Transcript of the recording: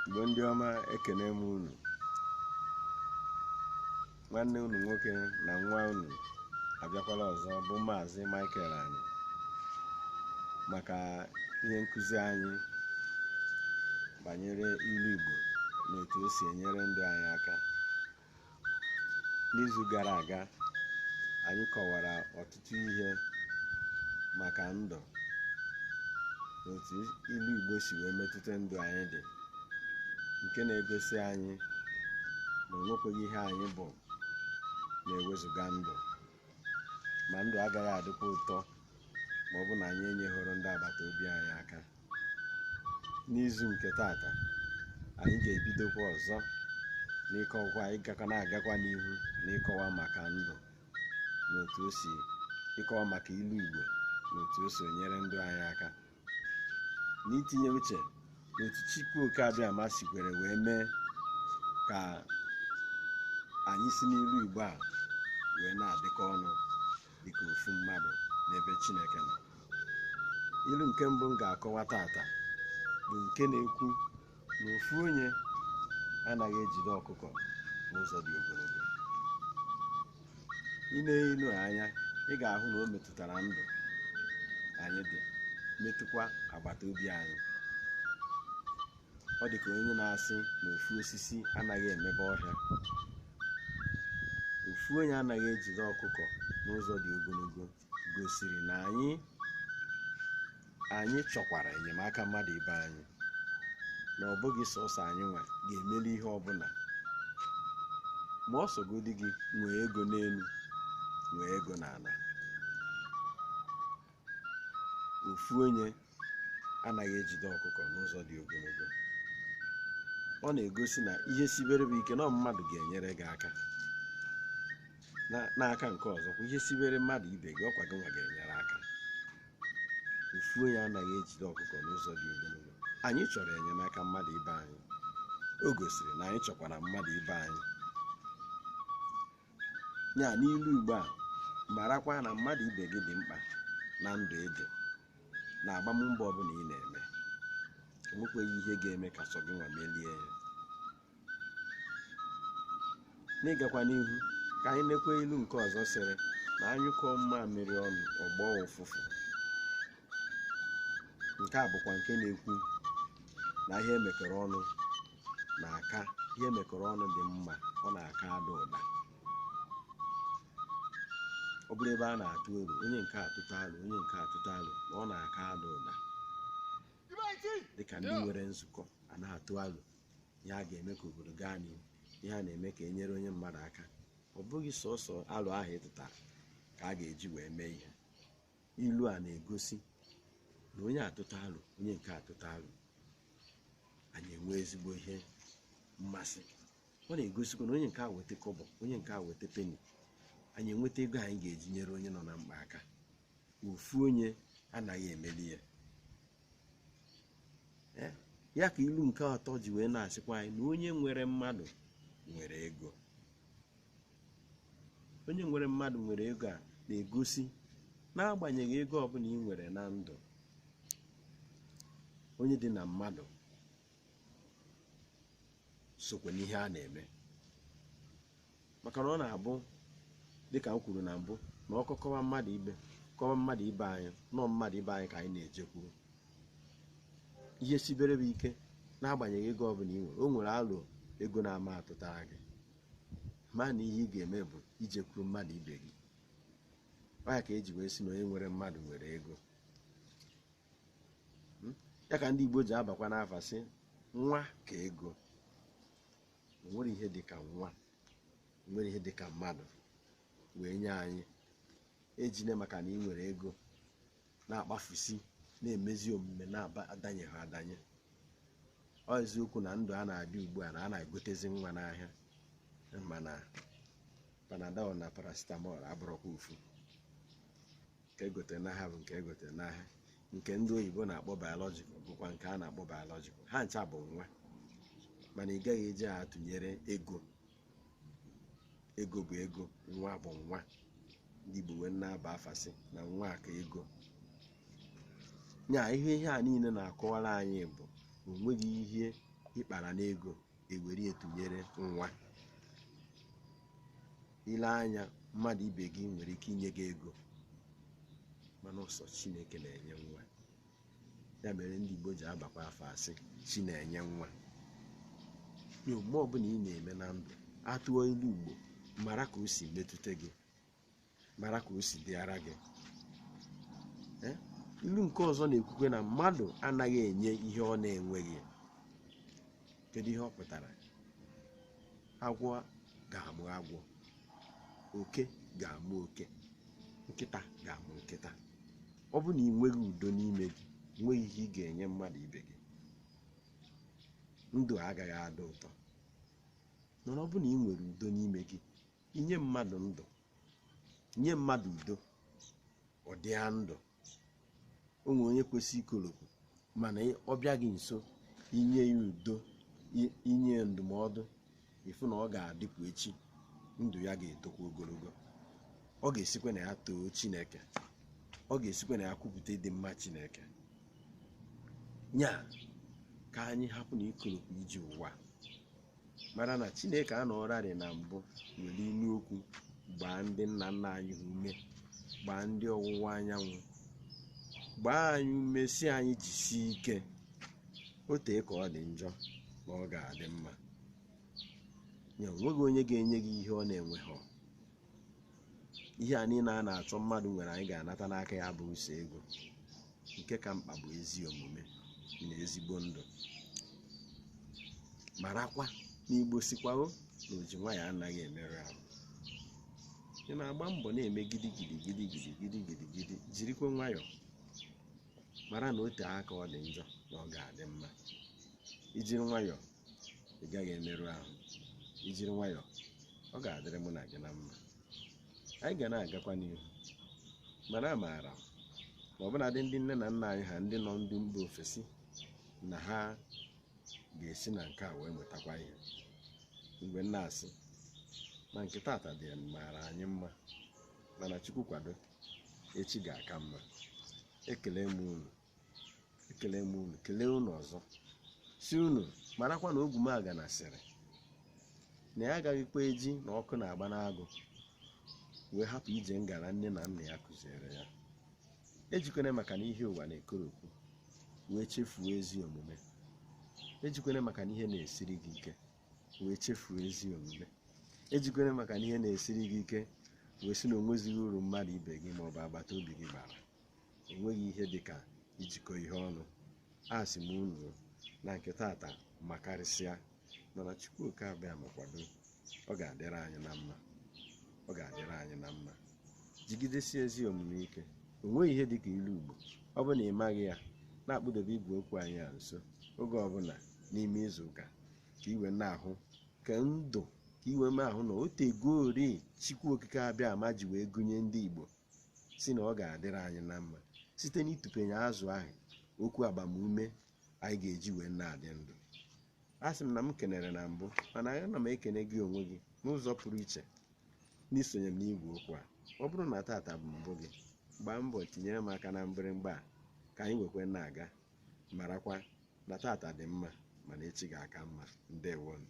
igbo ndị ọma ekene m unu nwanne unu nwoke na nwa unu abịakwala ọzọ bụ maazị Michael anyị maka ihe nkụzi anyị banyere ilu igbo na otu o si enyere ndụ anyị aka n'izu gara aga anyị kọwara ọtụtụ ihe maka ndụ na otu ilu igbo si wee metụta ndụ anyị dị nke na-egosi anyị na o nwekweghị ihe anyị bụ na-ewezụga ndụ ma ndụ agaghị adịkwa ụtọ ma ọ bụ na anyị enyeghoro ndị agbata obi anyị aka n'izu nke tata anyị ga-ebidokwa ọzọ n'ịkọwa ịgakwa na-agakwa n'ihu n'ịkọwa maka ndụ na otu o si ịkọwa maka ilu Igbo na otu o si enyere ndụ anyị aka na itinye uche n'otu Chukwu oke abịama sikwere wee mee ka anyị si n'ilu Igbo a wee na-adịkọ ọnụ dịka ofu mmadụ n'ebe Chineke nọ ilu nke mbụ m ga-akọwa tata bụ nke na-ekwu na ofu onye anaghị ejide ọkụkọ n'ụzọ dị ogologo i nee ilu anya ị ga-ahụ na o metụtara ndụ anyị dị metụkwa agbata obi anyị ọ dị ka onye na-asị na ofu osisi anaghị emebe ọhịa ofu onye anaghị ejide ọkụkọ n'ụzọ dị ogologo gosiri na anyị chọkwara enyemaka mmadụ ibe anyị na ọ bụghị sọsọ anyị nwa ga-emeli ihe ọbụla ma ọ sọgodi gị nwee ego n'elu nwee ego n'ala ofu onye anaghị ejide ọkụkọ n'ụzọ dị ogologo ọ na-egosi na ihe sibere gị ike na ọ mmadụ ga-enyere gị aka n'aka nke ọzọ kwa ihe sibere mmadụ ibe gị ọkwa gị nwa ga-enyere aka ofu onye anaghị ejide ọkụkọ n'ụzọ dị ogologo anyị chọrọ enyemaka mmadụ ibe anyị o gosiri na anyị chọkwara mmadụ ibe anyị ya n'ilu igbo a marakwa na mmadụ ibe gị dị mkpa na ndụ ị dị na agbammbọ ọbụla ị na-eme enwekweghị ihe ga-eme ka sọ gị nwa melie ya n'ịgakwa n'ihu ka anyị nekwe ilu nke ọzọ sịrị na a nyụkọọ mmamịrị ọnụ ọ gbọọ ụfụfụ nke a bụkwa nke na-ekwu na ihe e mekọrọ ọnụ na-aka ihe e mekọrọ ọnụ dị mma ọ na-aka ada ụda ọ bụrụ ebe a na-atụ alo onye nke a tụta alo onye nke a tụta alo na ọ na-aka ada ụda dịka ndị nwere nzukọ a na-atụ alo ihe a ga-eme ka obodo gaa n'ihu ihe a na-eme ka e nyere onye mmadụ aka ọ bụghị sọsọ alo ahụ ị tụtara ka a ga-eji wee mee ihe ilu a na-egosi na onye a tụta alo onye nke a tụta alo anyị enwe ezigbo ihe mmasị ọ na-egosikwa na onye nke a weta kọbọ onye nke a weta peni anyị enweta ego anyị ga-eji nyere onye nọ na mkpa aka ofu onye anaghị emeli ya Eh, ya ka ilu nke atọ ji wee na-asịkwa anyị na onye nwere mmadụ nwere ego onye nwere mmadụ nwere ego a na-egosi n'agbanyeghị ego ọbụla ị nwere na ndụ onye dị na mmadụ sokwa n'ihe a na-eme maka na ọ na-abụ dịka m kwuru na mbụ na ọkọ kọwa mmadụ ibe kọwa mmadụ ibe anyị na ọ mmadụ ibe anyị ka anyị na-ejekwuru ihe sibere bụ ike n'agbanyeghị ego ọbụla ị nwere o nwere alo ego na-ama atụtara gị mana ihe ị ga-eme bụ ijekwuru mmadụ ibe gị ya ka e ji wee sị na onye nwere mmadụ nwere ego hmm? ya ka ndị Igbo ji abakwa n'afa sị nwa ka ego o nwerọ ihe dị ka nwa o nwerọ ihe dị ka mmadụ wee nye anyị ejine maka na ị nwere ego na-akpafusi na-emezi omume na-adanyeghị adanye ọ eziokwu na ndụ a na-adị ugbu a na a na-egotezi nwa n'ahịa mana panadol na paracetamol abụrọkwa ofu nke e gotere n'ahịa bụ nke e gotere n'ahịa nke ndị oyibo na-akpọ biological bụkwa nke a na-akpọ biological ha ncha bụ nwa mana ị gaghị eji ha atụnyere ego ego bụ ego nwa bụ nwa ndị Igbo wee na-aba afa sị na nwa ka ego nya ihe ihe a niile na-akọwara anyị bụ o nweghị ihe ị kpara n'ego ewere etụnyere nwa ile anya mmadụ ibe gị nwere ike inye gị ego mana ọ sọ Chineke na-enye nwa ya mere ndị Igbo ji abakwa afa sị chi na-enye nwa omume ọbụla ị na-eme na ndụ a tụọ ilu Igbo mara ka o si metụta gị mara ka o si dịara gị eh? ilu nke ọzọ na-ekwukwe na mmadụ anaghị enye ihe ọ na-enweghị kedu ihe ọ pụtara agwọ ga-amụ agwọ oke ga-amụ oke nkịta ga-amụ nkịta ọ bụ na ị nweghị udo n'ime gị nweghị ihe ị ga-enye mmadụ ibe gị ndụ agaghị adị ụtọ mana ọ bụ na ị nwere udo n'ime gị inye mmadụ ndụ nye mmadụ udo ọ dịa ndụ o nwere onye kwesịrị ikolopụ mana ọ bịa gị nso inye ya udo inye ndụmọdụ ịfụ na ọ ga-adịpụ echi ndụ ya ga-etokwa ogologo ọ ga-esikwa na ya too chineke ọ ga-esikwa na ya kwupụta ịdị mma chineke nya ka anyị hapụ na ikolopụ iji ụwa mara na chineke anọrarị na mbụ were inu okwu gbaa ndị nna nna anyị ha ume gbaa ndị ọwụwa anyanwụ gbaa anyị ume sị anyị jisie ike o tee aka ọ dị njọ na ọ ga-adị mma nya o nweghị onye ga-enye gị ihe ọ na-enweghị ihe a niile a na-achọ mmadụ nwere anyị ga-anata n'aka ya abụghị sọ ego nke ka mkpa bụ ezi omume na ezigbo ndụ marakwa na igbo sịkwago na oji nwayọọ anaghị emerụ ahụ ị na-agba mbọ na-eme gidi gidi gidi gidi gidi gidi gidi jirikwa nwayọọ mara na o tee aka ọ dị njọ na ọ ga-adị mma i jiri nwayọọ ị gaghị emerụ ahụ i jiri nwayọọ ọ ga-adịrị mụ na gị na mma anyị ga na-agakwa n'ihu mana amaara m na ọbụnadị ndị nne na nna anyị ha ndị nọ ndị mba ofesi na ha ga-esi na nke a wee mụtakwa ihe mgbe m na-asị na nke tata dị maara anyị mma mana chukwu kwado echi ga-aka mma ekele m unu ekele m unu kelee unu ọzọ sị unu marakwa na ogwumagana sịrị na ya agaghịkwa eji na ọkụ na-agba n'agụ wee hapụ ije ngara nne na nna ya kụziere ya ejikwene maka na ihe ụwa na-ekoropụ wee chefuo ezi omume ejikwene maka na ihe na-esiri gị ike wee chefuo ezi omume ejikwene maka na ihe na-esiri gị ike wee sị na onwezighị uru mmadụ ibe gị maọbụ agbata obi gị bara o nweghị ihe dị ka ijikọ ihe ọnụ asị m unu na nke tata makarịsịa mana Chukwu oke abịama kwado ọ ga-adịrị anyị na mma ọ ga-adịrị anyị na mma jigidesie ezi omume ike o nweghị ihe dị ka ilu Igbo ọ bụ na ị maghị ya na-akpụdebe igwe okwu anyị a nso oge ọbụla n'ime izu ụka ka i wee na-ahụ ka ndụ ka i wee na-ahụ na o tegori Chukwu okike abịama ji wee gụnye ndị Igbo si na ọ ga-adịrị anyị na mma site n'ịtụpenye azụ ahụ okwu agbamume anyị ga-eji wee na-adị ndụ asị m na m kenere na mbụ mana ana m ekene gị onwe gị n'ụzọ pụrụ iche n'isonye m n'igwe okwu a ọ bụrụ na tata bụ mbụ gị gbaa mbọ tinyere m aka na mgbịrịmgba a ka anyị nwekwe na-aga marakwa na tata dị mma mana echi ga-aka mma ndewonụ